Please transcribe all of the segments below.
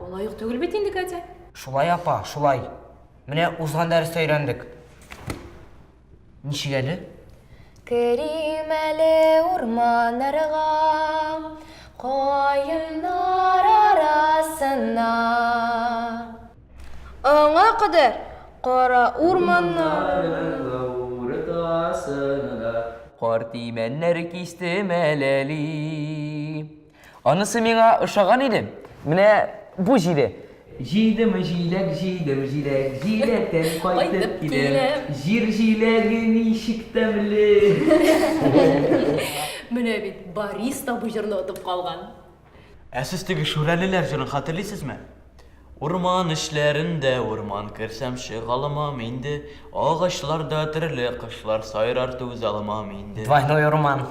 Алай ук түгел бит инде, Катя. Шулай, апа, шулай. Менә узган дәрестә өйрәндек. Ничек әле? Керим әле урманнарга, каеннар арасына. Аңа кадәр кара урманнар. Кар тимәннәр кистем әләли. Анысы миңа ошаган иде. Менә бу җиде. Җыйдым җиләк, җыйдым җиләк, җиләктән кайтып киләм. Җир җиләге ничек тәмле! Менә бит, Борис та бу җырны отып калган. Ә сез теге Шүрәлеләр җырын хәтерлисезме? Урман эчләрендә урман керсәм чыга алмам инде, Агачларда төрле кошлар сайрар түзә алмам инде. Двойной урман.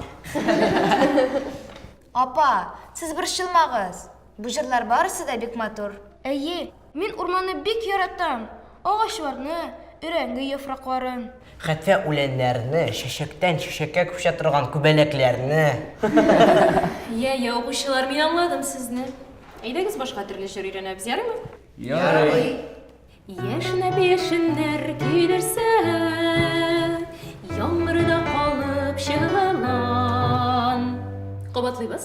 Апа, сез борчылмагыз, бу җырлар барысы да бик матур. Әйе, мин урманны бик яратам. Агачларны, өрәңге яфракларын. Хәтта үләннәрне, чәчәктән чәчәккә күчә торган күбәләкләрне. Йә, йә, укучылар, мин аңладым сезне. Әйдәгез башка төрле җыр өйрәнәбез, ярыймы? Ярый. Яшенә яшеннәр көйләрсә, Яңгырда калып чыгылан. Кабатлыйбыз.